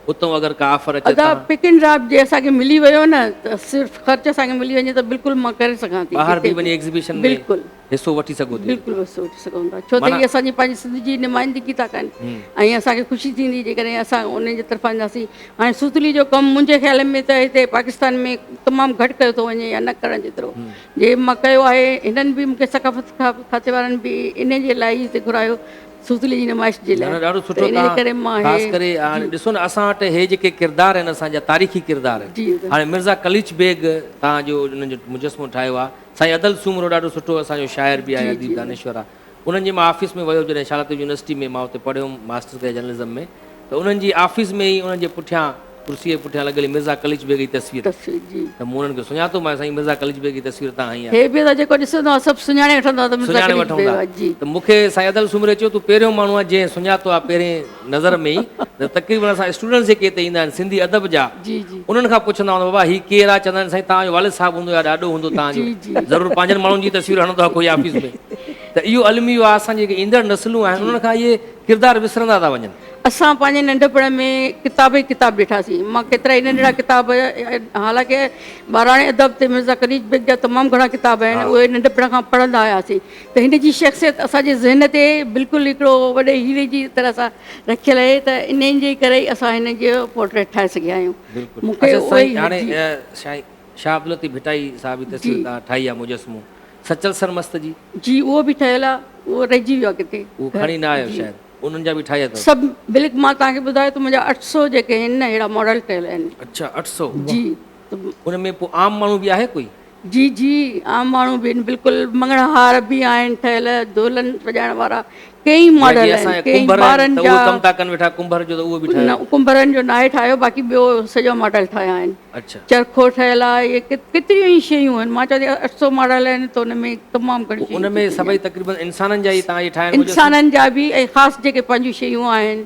اتون اگر ڪا آفر اچي ادا ته. پڪ اينڊ ڊراپ جي اسان کي ملي ويو نه ته صرف خرچ اسان کي ملي وڃي ته بلڪل مان ڪري سگهان ٿي ٻاهر جتي به وڃي ايگزيبيشن ۾ بلڪل حصو وٺي سگهو ٿي بلڪل اتان حصو وٺي سگهون ٿا ڇو ته معنيٰ هي اسان جي پنهنجي سنڌ جي نمائندگي ٿا ڪن هم. ۽ اسان کي خوشي ٿيندي جيڪڏهن اسان انهن جي طرفان اينداسين هاڻي سوتلي جو ڪم منهنجي خيال ۾ ته هتي پاڪستان ۾ تمام گهٽ ڪيو ٿو وڃي يا نه ڪرڻ جيترو هم. جي مان ڪيو آهي هنن به مون کي ثقافت کاتي وارن به انهي جي لاء ئي هتي گهرايو سوزلي جي نمائش جي لاء نه نه ڏاڍو ته سٺو انهيء تان ڪري مان خاص هي ڪري هاڻي جي. ڏسو نه اسان وٽ هي جيڪي ڪردار آهن اسان جا تاريخي ڪردار جي ته. هاڻي مرزا قليچ بيگ تان جو انهن جو مجسمو ٺاهيو آ سائين ادل سومرو ڏاڍو سٺو اسان جو شاعر به آهي جي اديب جي. دانشور آ انهن جي مان آفيس ۾ ويو جڏهن شالاتيو يونيورسٽي ۾ مان اتي پڙهيوم ماسٽر ڪيا جرنلزم ۾ ته انهن جي آفيس ۾ ئي انهن جي پٺيان ڪرسيء جي پٺيان لڳل مرزا قليچ بيگ جي تصوير هئي تصوير جي. ته مون انهن کي سڃاتو مانس سائين مرزا قليچ بيگ جي تصوير تان هنئي آهي. هي به ته جيڪو ڏسندو آهي سڀ سڃاڻي وٺندو آهي ته مرزا سڃاڻي قليچ وٺون بيگ ٿا آهي جي. ته مون کي سائين ادل سومري چيو تون پهريون ماڻهو آهي جنهن سڃاتو آهي پهرين نظر ۾ ئي ته تقريبن اسان اسٽوڊنٽس جيڪي هتي ايندا آهن سنڌي ادب جا جي جي. انهن کان پڇندا هوندا بابا هي ڪير آهي چوندا آهن سائين توهان جو والد صاحب هوندو يا ڏاڏو هوندو توهان جو جي جي. ضرور پنهنجن ماڻهن جي تصوير هڻندو آهي ڪوئي آفيس ۾ ته اهو الميو آهي اسان جي جيڪي ايندڙ نسلون آهن جي. انهن کان اهي ڪردار وسرندا ٿا وڃن. اسان پنهنجي ننڍپڻ ۾ ڪتاب ئي ڪتاب ڏٺاسين. مان ڪيترائي ننڍڙا ڪتاب حالانڪه ٻاراڻي ادب تي مرزا قنيج بيگ جا تمام گهڻا ڪتاب آهن اهي ننڍپڻ کان پڙهندا آياسين ته هن جي شخصيت اسان جي ذهن تي بلڪل هڪڙو وڏي هيري جي طرح سان رکيل آهي ته انهي جي ڪري ئي اسان هن جو پورٽريٽ ٺاهي سگهيا آهيون. مون کي اهو ئي. اچا سائين هاڻي شاهه عبداللطيف ڀٽائي صاحب جي تصوير توهان ٺاهي آهي مجسمو. سچل سرمست جي. جي اهو به ٺهيل آ اهو رهجي ويو آ ڪٿي. اهو کڻي نه آيو شايد انهن جا به ٺاهيا اٿو. سڀ بلڪ مان توهان کي ٻڌايو ته منهنجا اٺ سؤ جيڪي آهن نه اهڙا ماڊل ٺهيل آهن. اڇا اٺ سؤ جي ان ۾ پو عام ماڻهو به آهي ڪوئي. جي جي عام ماڻهو به آهن بلڪل مڱڻهار به آهن ٺهيل دولن سجائڻ وارا ڪيئي جيئن ماڊل جي اسان آهن جا ڪيئي ڪنڀر آهن ٻارن ته جا اهو ڪم ٿا ڪن ويٺا ڪنڀر جو ته اهو به ٺاهيو ڪنڀرن جو ناهي ٺاهيو باقي ٻيو سڄا ماڊل ٺاهيا آهن اڇا چرخو ٺهيل آهي اهي ڪيتريون ئي شيون آهن مان چوان ٿي اٺ سؤ ماڊل آهن ته ان ۾ تمام گهڻي شيون ان ٿي ۾ چڪيون سڀئي آهن تقريبن انسانن جا ئي تهان جي ٺاهيا آهن انسانن جا به ۽ خاص جيڪي پنهنجون شيون آهن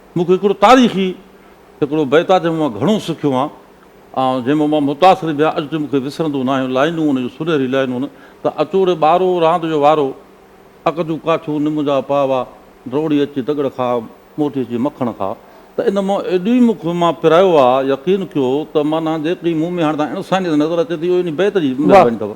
مون کي هڪڙو تاريخي هڪڙو بيت آهي جنهن مان مان گهڻو سکيو آهيان ۽ جنهن مان مان متاثر به آهيان اڄ تائين مون کي وسرندو ناهي لائينون ان جون سنهري لائينون ته اچوڙي ٻارو راند جو وارو اک جون ڪاٺيون نم جا پاوا ڊوڙي اچي دڳڙ کاء موٽي اچي مکڻ کاء ته ان مان ايڏي مون کي مان پرايو آهي يقين ڪيو ته معنيٰ جيڪي مون ۾ هاڻي تائين انسانيت نظر اچي ٿي اهو انهي بيت جي مهرباني اٿو.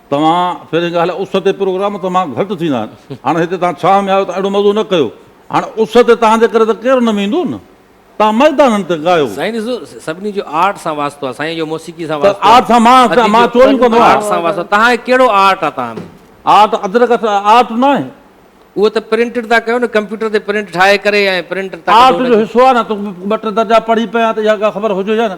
توهان پهرين ڳالهه اس تي پروگرام تمام گهٽ ٿيندا آهن هاڻ هتي توهان ڇانو ۾ آهيو ته اهڙو مزو نه ڪيو هاڻ اس تي توهان جي ڪري ته ڪير نه ويندو نه توهان ميدانن تي ڳايو. سائين ڏسو سڀني جو آرٽ سان واسطو آهي سائين جو موسيقي سان واسطو آهي آرٽ سان مان مان چوريون ڪندو آهيان آرٽ سان واسطو توهان کي ڪهڙو آرٽ آهي توهان ۾ آرٽ ادرڪ آرٽ نه آهي اهو ته پرنٽ ٿا ڪيو نه ڪمپيوٽر تي پرنٽ ٺاهي ڪري ۽ پرنٽ آرٽ جو حصو آهي نه ته ٻه ٽي درجا پڙهي پيا ته اها ڳالهه خبر هجي يا نه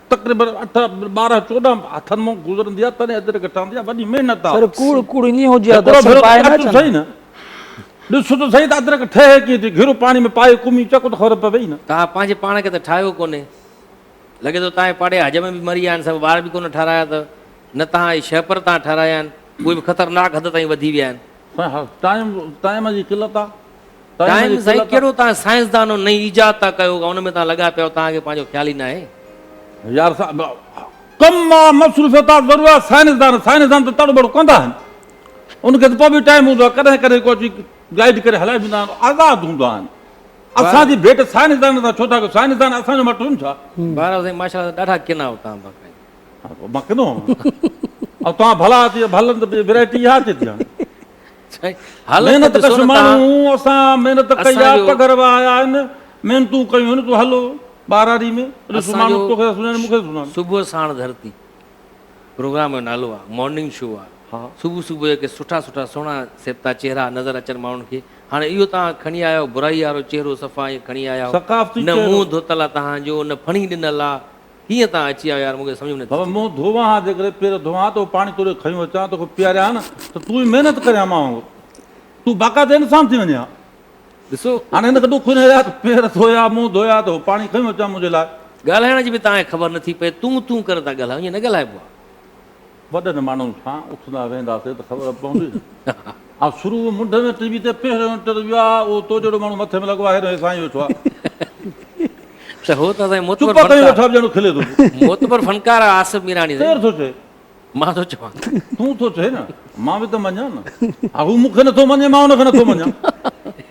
تقريبن اٺ ٻارهن چوڏهن هٿن مان گذرندي آ تڏهن اجرڪ ٺهندي آ وڏي محنت آ. سر ڪوڙ ڪوڙ ائين هجي ها ته هڪڙو اصل ڀيرو پائي ته نه اچ ته اچن. سهي نه ڏس ته سهي ته اجرڪ ٺهي ڪيئن ٿي گهرو پاڻي ۾ پائي ڪومي چڪ ته خبر پوي نه. توهان پنهنجي پاڻ کي ته ٺاهيو ڪونهي لڳي ٿو توهان جي پاڙي حجم به مري ويا آهن سڀ ٻار به ڪونه ٺارايا اٿو نه توهان جي شهپر توهان ٺارايا آهن اهي به خطرناڪ حد تائين وڌي ويا آهن. سائين ها ٽائيم ٽائيم جي قلت آ. ٽائيم سائين ڪهڙو توهان سائنسدانو نئين ايجاد ٿا ڪيو ان ۾ توهان لڳا پيا آهيو توهان کي پنهنجو خيال ئي ناهي. يار صاحب ڪم مان مصروفيت ٿا ضرور آهي سائنسدان سائنسدان ته تڙ ٻڙ ڪوندا آهن ان کي ته پوء به ٽائيم هوندو آهي ڪڏهن ڪڏهن ڪو اچي گائيڊ ڪري هلائي ويندا آهن آزاد هوندا آهن اسان جي ڀيٽ سائنسدانن سان ڇو ٿا ڪيو سائنسدان اسان جو مٽ هن ڇا. بهرحال سائين ماشاء الله ڏاڍا ڪنا آهيو توهان باقاعده. مان ڪنو آهيان توهان ڀلا اچي ڀلن ته ورائٽي اها اچي ٿي هاڻي. محنت ڪش ماڻهو اسان محنت ڪئي آ پگهر وهايا آهن محنتون ڪيون آهن تون هل ٻهراڙي ۾ ڏس ماڻهو توکي ٿا سڃاڻين مون کي ٿا سڃاڻين. صبح ساڻ ڌرتي پروگرام جو نالو آ مارننگ شو آ صبح صبح جو ڪي سٺا سٺا سهڻا سيبتا چهرا نظر اچن ماڻهن کي هاڻي اهو توهان کڻي آيا آهيو برائي وارو چهرو صفا ائين کڻي آيا آهيو نه منهن ڌوتل آ توهان جو نه ڦڻي ڏنل آ ڪيئن تان اچي آيو يار مون کي سمجهه ۾ نٿي بابا اچي. منهن ڌوئان ها جيڪڏهن پير ڌوئان ها ته اهو پاڻي توري کنيو اچان توکي پياريان ها نه ته تون ئي محنت ڪرين ها مان وانگر تون باقاعده انسان ٿي وڃين ها ڏسو هاڻي هن کي ڏک هن يا ته پير ڌويا منهن ڌويا ته اهو پاڻي کنيو اچان منهنجي لاء. ڳالهائڻ جي به تان کي خبر نٿي پئي تون تون ڪري ٿا ڳالهايو ائين نه ڳالهائبو آهي. وڏن ماڻهن سان اٿندا ويهنداسين ته خبر پوندي نه. آئون شروع ۾ منڍ ۾ ٽي وي تي پهريون انٽرويو آ، اهو تو جهڙو ماڻهو مٿي ۾ لڳو آ، هيڏانهن سائين ويٺو آ. ته هو ته اسان جي معتبر چپ ڪري ويٺا به ڄڻ کلي ٿو پيو. معتبر فنڪار آ آصف ميراڻي سائين. ڪير ٿو چئي؟ مان ٿو چوان. تون ٿو چئي نه، مان به ته مڃان نه. ها هو مون کي نٿو مڃي، مان هن کي نٿو مڃان.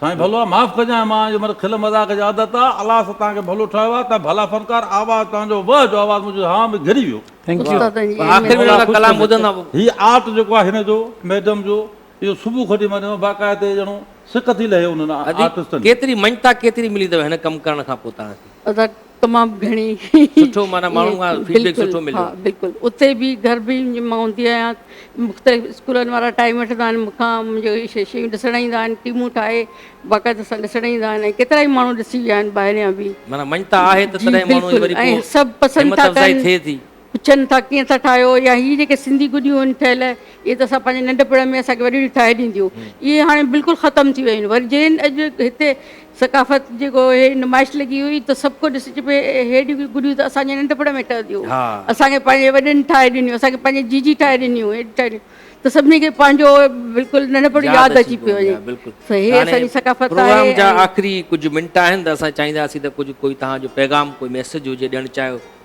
سائين ڀلو آ معاف ڪجانء مان جو مھر کل مذاق جي عادت آ الله سا تان کي ڀلو ٺاھيو آ تان ڀلا فنڪار آواز تان جو وه جو آواز منھنجو ھاھ ۾ گھري ويو ٿينڪ يو پر آخر ۾ ڏاڍا ڪلام ٻڌن ٿا ھي آرٽ جيڪو آ ھن جو ميڊم جو اھو صبح کان وٺي مان ڏٺو باقاعدي ڄڻو سڪ ٿي لھي انھن آرٽسٽن جي. ڪيتري مڃتا ڪيتري ملي اٿو ھن ڪم ڪرڻ کان پوء توھان کي. تمام گهڻي سٺو معنيٰ ماڻهن کان ائين فيڊبيڪ بلڪل سٺو ها مليو بلڪل اتي به گهر به مان هوندي آهيان مختلف اسڪولن وارا ٽائيم وٺندا آهن مون کان منهنجو هي شي شيون ڏسڻ ايندا آهن ٽيمون ٺاهي باقاعده سان ڏسڻ ايندا آهن ۽ ڪيترائي ماڻهو ڏسي ويا آهن ٻاهريان به معنيٰ مڃتا آهي ته جي تڏهن ماڻهو جي بلڪل وري ۽ پوء سڀ پسند همت ٿا افزائي ڪن ٿئي ٿي پڇن ٿا ڪيئن ٿا ٺاهيو يا هي جيڪي سنڌي گڏيون آهن ٺهيل اهي ته اسان پنهنجي ننڍپڻ ۾ اسان کي وڏيڙيون ٺاهي ڏينديون اهي هاڻي بلڪل ختم ٿي ويون آهن وري جين اڄ هتي ثقافت جيڪو هي نمائش لڳي هئي ته سڀ ڪو ڏسي چئي پئي هي ڏيون گڏيون ته اسان جي ننڍپڻ ۾ ٺهنديون هيون اسان کي پنهنجي وڏن ٺاهي ڏنيون اسان کي پنهنجي جيجي ٺاهي ڏنيون هي ٺاهي ڏنيون ته سڀني کي پنهنجو بلڪل ننڍپڻ ياد اچي پيو وڃي ته هي اسان جي ثقافت آهي پروگرام جا آخري ڪجهه منٽ آهن ته اسان چاهينداسين ته ڪجهه ڪوئي توهان جو پيغام ڪوئي ميسج هجي ڏيڻ چاهيو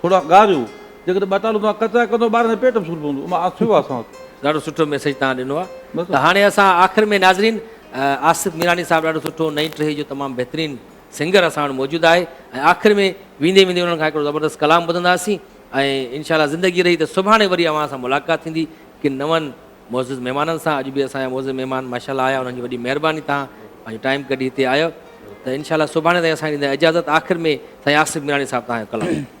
ٿورا ڳاريو، جيڪڏهن ٻه ٽالون توهان ڪچا ڪندو ٻارن جي پيٽ به سور پوندو امان آ ٿيو آ اسان وٽ. ڏاڍو سٺو ميسيج توهان ڏنو آ ته هاڻي اسان آخر ۾ ناظرين آصف ميراڻي صاحب ڏاڍو سٺو نئين ٽهي جو تمام بهترين سنگر اسان وٽ موجود آهي ۽ آخر ۾ ويندي ويندي انهن کان هڪڙو زبردست ڪلام ٻڌندا سين ۽ انشاء الله زندگي رهي ته سڀاڻي وري اوهان سان ملاقات ٿيندي ڪن نون معزز مهمانن سان اڄ به اسان جا معزز مهمان ماشاءالله آيا انهن جي وڏي مهرباني تهان پنهنجو ٽائيم ڪڍي هتي آيو ته انشاء الله سڀاڻي تائين اسان ڏيندو اجازت آخر ۾ سائين آصف ميراڻي صاحب تهان جو ڪلام